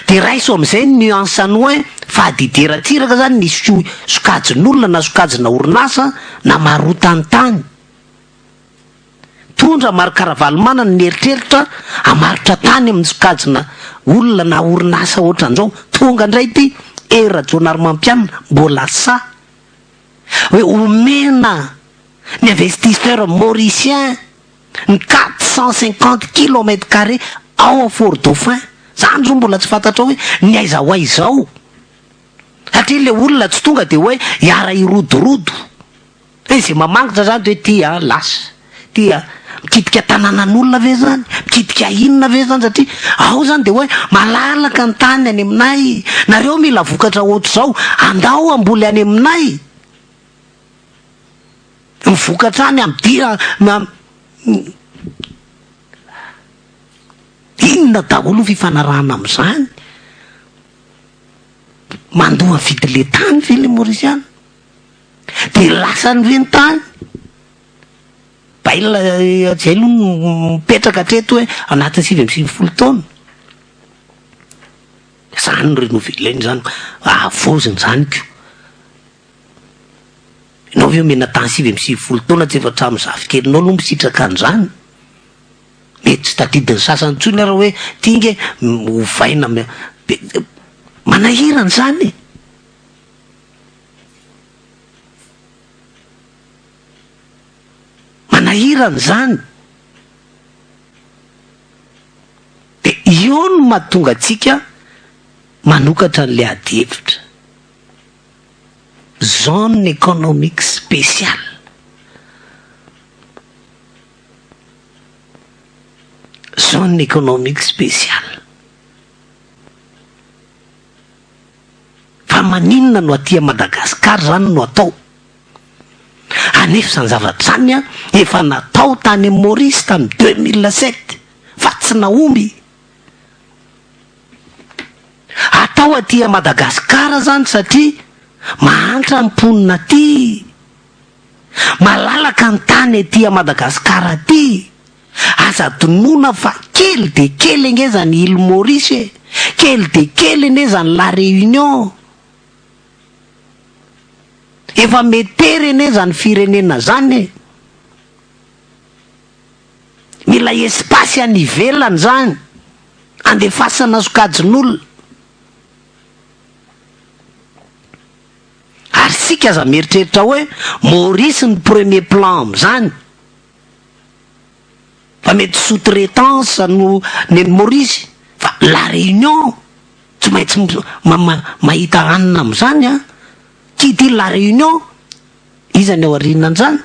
Dia raiso amin'izay ny nuance anao hoe fadidi ratsiraka izany ny sokajin'olona na sokajina orinasa na marotan'ny tany. Mitondra marika Ravalomanana ny mieritreritra hamaritra tany amin'ny sokajina olona na orinasa ohatran'izao. Tonga indray ity Hery Rajaonarimampianina mbola sahy hoe omena ny investisseur mauricien ny quatre cent cinquante kilomètre carré ao à Fort Dauphin. Izany izao mbola tsy fantatrao hoe ny aiza ho aiza ao. Satria ilay olona tsy tonga dia hoe hiara-hirodorodo. Ve izay mamangitra izany dia hoe ity an lasa ity an, mikitika tananan'olona ve izany, mikitika inona ve izany satria ao izany dia hoe malalaka ny tany any aminay, nareo mila vokatra ohatr'izao andao hamboly any aminay, ny vokatra any amidira inona daholo ny fifanarahana amin'izany, mandoa ny vidin'ilay tany ve ilay Maorisiana? Dia lasa an'ireny tany. Bayle izay aloha no mipetraka hatreto hoe anatin'ny sivy amby sivifolo taona. Izany no renouveler-na izany, havaozina izany koa. Ianao ve omena temps sivy amby sivifolo taona tsy efa hatramin'ny zafikelinao aloha misitraka an'izany? Mety tsy tadidin'ny sasany intsony ary hoe ity ange ovaina, manahirana izany e! Manahirana izany. Dia io no mahatonga antsika manokatra an'ilay adihevitra. Zone économique spéciale. Zone économique spéciale. Fa maninona no aty Madagascar zany no atao? Anefa zany zavatra zany an efa natao tany Maurice tamy deux mille sept fa tsy nahomby. Atao aty Madagascar zany satria mahantra ny mponina aty. Malalaka ny tany aty Madagascar aty. Aza adinoina fa kely dia kely ange izany Île Maurice e! Kely dia kely anie izany La Réunion. Efa metery anie izany firenena izany e! Mila espace any ivelany izany, andefasana sokajin'olona. Ary isika aza mieritreritra hoe Maurice no premier plan amin'izany. Fa mety sous traitance no neny Maurice fa la réunion tsy maintsy mahita hanina amin'izany an! Qui dit la réunion, iza ny ao aorianan'izany?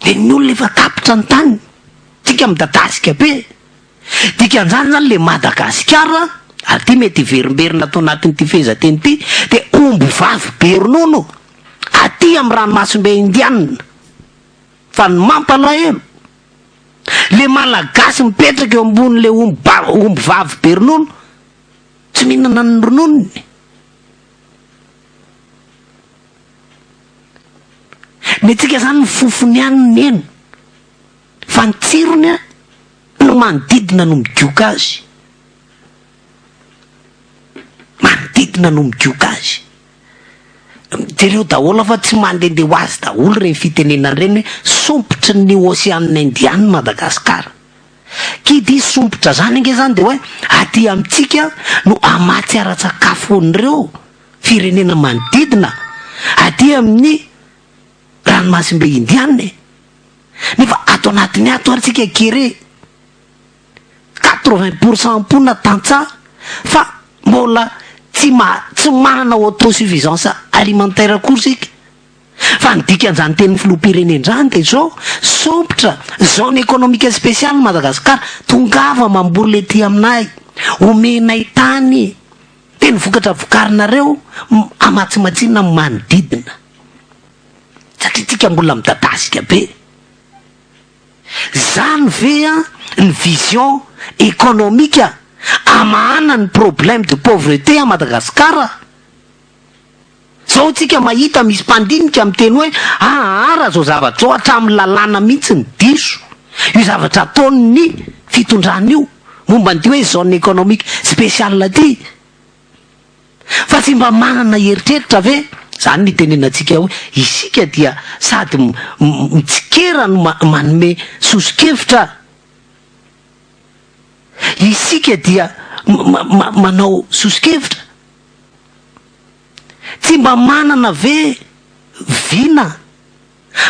Dia ny olona efa tapitra ny taniny, tsika midadasika be. Dikan'izany izany ilay Madagasikara ary ity mety hiverimberina ato anatin'ity fehezanteny ity dia omby vavy be ronono aty amin'ny ranomasimbe indianina fa ny mampalahelo ilay malagasy mipetraka eo ambonin'ilay omby omby vavy be ronono tsy mihinana ny rononony ny antsika izany ny fofony ihany ny hena Fa ny tsirony an, no manodidina no midioka azy. Manodidina no midioka azy. Jereo daholo fa tsy mandende ho azy daholo ireny fitenenana ireny hoe sompitry ny ocean indian i Madagascar. Qui dit sompitra zany ange zany dia hoe aty amintsika no amatsy ara-tsakafo an'ireo firenena manodidina aty amin'ny ranomasimbe indiana e. Nefa ato anatiny ato ary tsika kere quatre vingt pour cent mponina tantsaha fa mbola tsy ma tsy manana auto suffisance alimentaire akory isika fa ny dikan'izany tenin'ny filoham-pirenena izany dia izao sompitra zone économique spéciale i Madagasikara tongava mamboly ety aminay omenay tany dia ny vokatra vokarinareo amatsimatsina amin'ny manodidina Satria tsika mbola midadasika be. Zany ve an ny vision economique amahana ny problème de pauvreté à Madagascar? Zao tsika mahita misy mpandinika miteny hoe ahaara zao zavatra zao hatramin'ny lalàna mihitsy ny diso io zavatra ataon'ny fitondrana io momba an'ity hoe zone economique spéciale ity. Fa tsy mba manana eritreritra ve? Izany ny itenenantsika hoe isika dia sady mitsikera no manome soso-kevitra. Isika dia manao soso-kevitra. Tsy mba manana ve vina?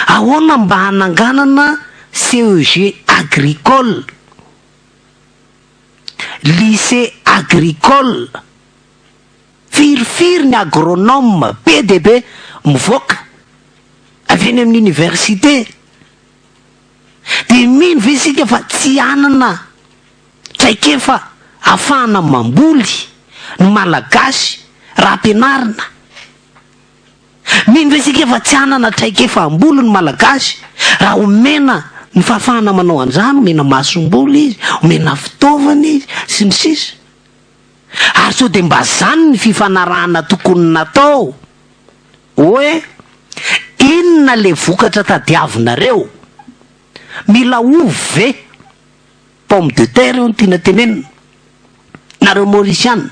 Ahoana mba hananganana CEG agricole? Lycée agricole, firifiry ny agronome be dia be mivoaka avy eny amin'ny université? Dia mino ve isika fa tsy hanana traikefa ahafahana mamboly ny Malagasy raha ampianarina? Mino ve isika fa tsy hanana traikefa hamboly ny Malagasy raha omena ny fahafahana manao an'izany, omena masomboly izy, omena fitaovana izy, sy ny sisa Ary sao dia mba izany ny fifanarahana tokony natao hoe inona ilay vokatra tadiavinareo? Mila ovy ve? Pomme de terre io no tiana tenenina nareo Mauriciana.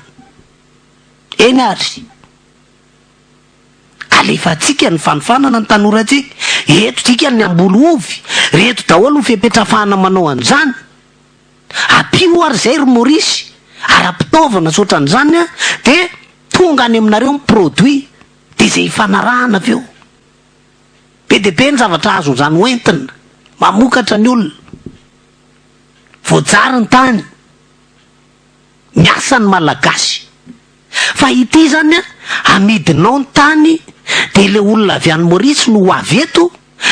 Eny ary. Alefantsika ny fanofanana ny tanorantsika. Eto dikany ny hamboly ovy. Reto daholo ny fepetra hafahana manao an'izany. Ampio ary izay ry Maurice, ara-pitaovana sy ohatran'izany an, dia tonga any aminareo ny produit, dia izay hifanarahana avy eo. Be dia be ny zavatra azon'izany hoentina, mamokatra ny olona. Voajary ny tany. Miasa ny Malagasy. Fa ity izany an, amidinao ny tany dia ilay olona avy any Maurice no ho avy eto,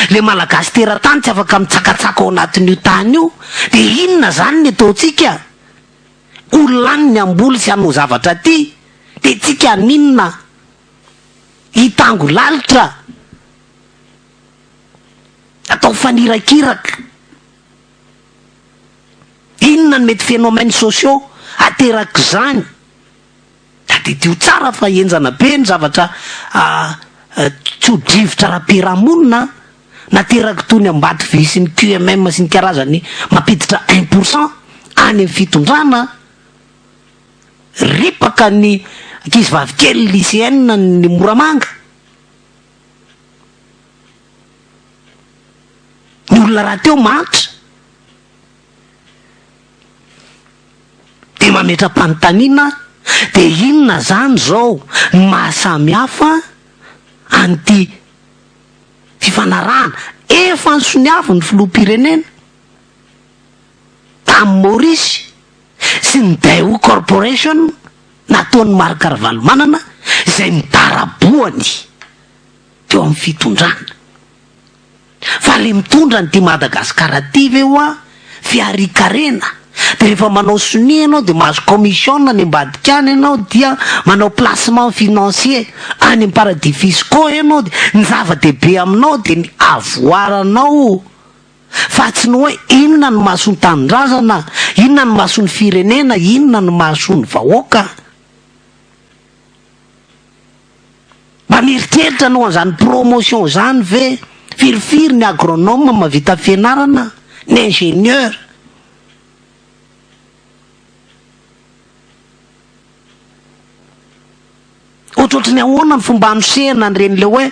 ilay Malagasy teratany tsy afaka mitsakatsaka ao anatin'io tany io, dia inona izany ny ataontsika? Olona any ny hamboly sy hanao zavatra aty, dia tsika haninona? Hitango lalitra? Atao fanirakiraka? Inona no mety phénomènes sociaux aterak'izany? Tadidio tsara fa henjana be ny zavatra tso-drivotra ara-piarahamonina naterak'i Tony Ambatovy sy ny QMM sy ny karazany mampiditra un pour cent any amin'ny fitondrana, ripaka ny ankizy vavikely lycéennes ny Moramanga. Ny olona rahateo mahantra dia mametra-panontaniana dia inona izany izao ny mahasamy hafa an'ity fifanarahana efa nisoniavin'ny filoham-pirenena? tamin'i Maurice sy ny Daewoo Corporation nataon'i Marc Ravalomanana izay nidarabohany teo amin'ny fitondrana. Fa le mitondra an'ity Madagascar ty ve hoa fiharikarena de rehefa manao sonia ianao de mahazo commission any ambadika any ianao dia manao placement financier any am-paradis fiscaux ianao de ny zava-dehibe aminao de ny avoaranao Fa tsy ny hoe inona no mahasoa ny tanindrazana, inona no mahasoa ny firenena, inona no mahasoa ny vahoaka. Mba mieritreritra anao an'izany promotion izany ve? Firifiry ny agronome mahavita fianarana, ny ingénieur? Ohatrohatry ny ahoana ny fomba anosehana an'ireny le hoe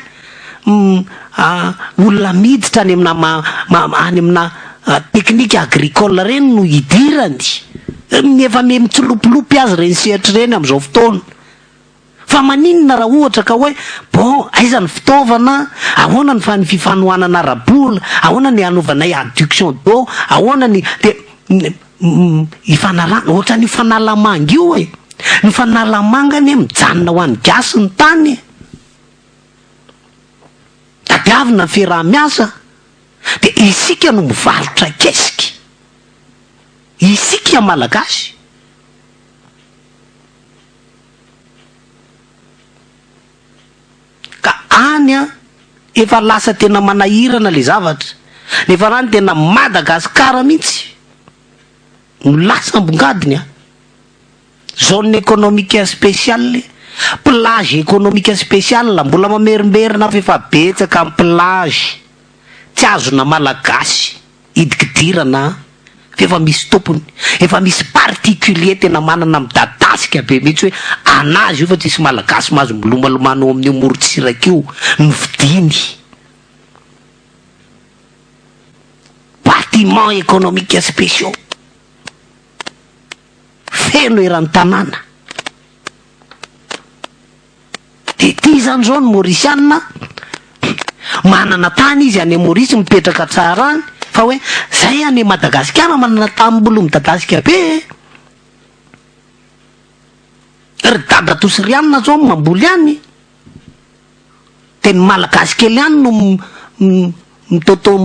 olona miditra any amina any amina teknika agricole ireny no hidirany. Efa miha mitsilopilopy aza ireny sehatra ireny amin'izao fotoana. Fa maninona raha ohatra ka hoe bon aiza ny fitaovana, ahoana ny fa- ny fifanohanana ara-bola, ahoana ny hanovanay adduction d'eau, ahoana ny dia. ny fanalana, ohatran'io fanalamanga io e. Ny fanalamanga anie mijanona ho an'ny gasy ny tany e. Tadiavina ny fiaraha-miasa, dia isika no mivarotra kesika. Isika Malagasy. Ka any an, efa lasa tena manahirana le zavatra. Ny farany tena Madagascar mihitsy no lasa ambongadiny an. Zone economique speciale, plage economique speciale, mbola mamerimberina fa efa betsaka ny plage tsy azona malagasy. Hidikidirana an! Fa efa misy tompony. Efa misy particulier tena manana midadasika be mihitsy hoe anazy io fa tsisy malagasy mahazo milomalomano ao amin'io morontsiraka io no vidiany. Bâtiments économiques spéciaux feno eran-tanàna. De ty izany zao ny Mauricianina manana tany izy any Maurice mipetraka tsara any fa hoe zay any Madagasikara manana tany mbolo midadasika be e! Ry dadatoa Rianina zao mamboly any de ny Malagasy kely any no mitaotao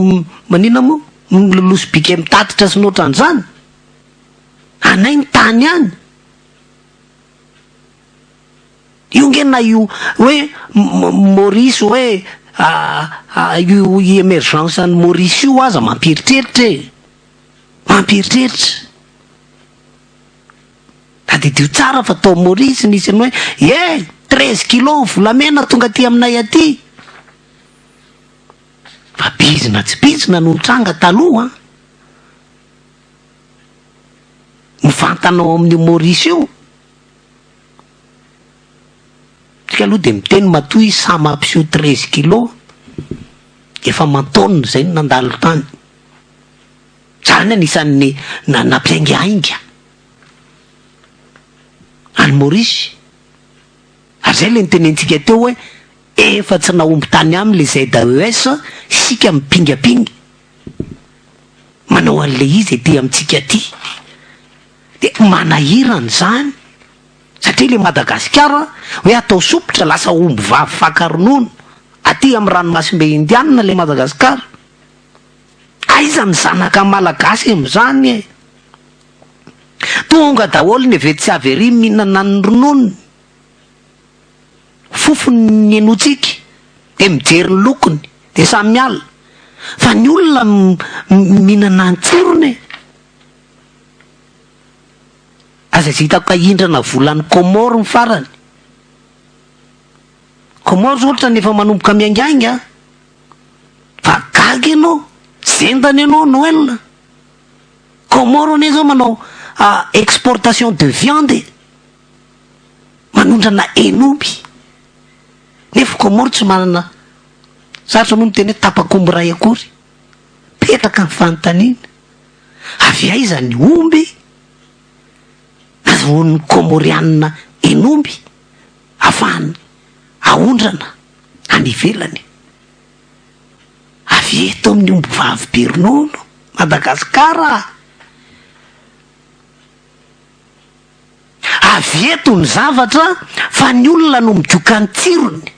maninona moa miloloha sobika mitatitra sy ny otran'izany, anay ny tany any. Io nge na io hoe Maurice hoe io i emergence an'i Maurice io aza mampieritreritra e! Mampieritreritra. Tadidio tsara fa tao Maurice nisy an'i hoe eh! Treize kilos volamena tonga aty aminay aty. Fa bizina tsy bizina no nitranga taloha an! Mivantana ao amin'io Maurice io. Tsika aloha dia miteny matoa i Sam hampiseho treize kilo, efa aman-taonina izay no nandalo tany. Tsara ny anisan'ny na- nampiaingahainga an'i Maurice. Ary izay ilay nitenentsika teo hoe efa tsy nahomby tany aminy ilay ZAES, isika mipingapinga manao an'ilay izy ety amintsika aty. Dia manahirana izany satria ilay Madagasikara hoe atao sompitra lasa omby vavy faka ronono aty amin'ny ranomasimbe Indianina ilay Madagasikara. Aiza ny zanaka malagasy amin'izany e? Tonga daholo ny avy etsy sy avy ery mihinana ny rononony, fofony henointsika, dia mijery ny lokony, dia samy miala. Fa ny olona mihinana ny tsirony e! Aza tsy hitako hahindrana vola any Comores ny farany. Comores ohatrany efa manomboka miaingainga an! Fa gaga ianao, zendana ianao Noël. Comores anie zao manao exportation de viande e! Manondrana hen'omby. Nefa Comores tsy manana, sarotra moa ny miteny hoe tapakomby iray akory. Petraka ny fanontaniana. Avy aiza ny omby? Nazahoan'ny Kômôriana hen'omby afahany aondrana any ivelany. Avy eto amin'ny ombivavy be ronono, Madagasikara a! Avy eto ny zavatra fa ny olona no midioka ny tsirony.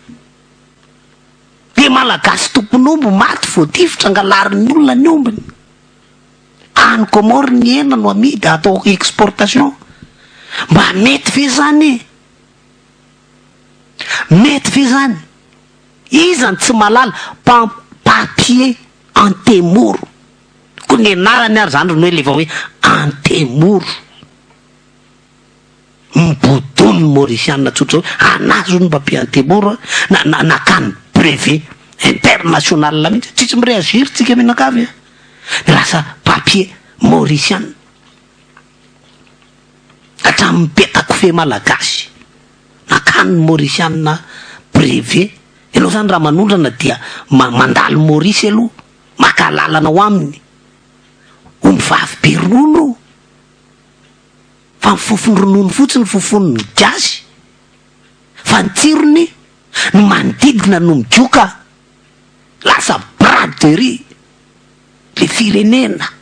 Dia Malagasy tompon'omby maty voatifitra angalarin'ny olona ny ombiny. Any Comores ny hena no amidy atao exportation. Mba mety ve izany e? Mety ve izany? Iza no tsy mahalala pa papier antemoro? Koa ny anarany ary izany ry noely efa hoe antemoro. Mibodo ny Maurisiana tsotra hoe anà zao no mba pays antemoro na na nakany brevet international mihitsy tsisy mi-reagir tsika mianakavy a! Lasa papier Maurisiana hatramin'ny peta-kofehy malagasy nakany ny Maurisiana brevet. Ianao zany raha manondrana dia ma- mandalo Maurice aloha maka alalana ao aminy, omby vavy be ronono. fa ny fofon'ny ronono fotsiny no fofon'ny gasy fa ny tsirony ny manodidina no migoka lasa braderie le firenena.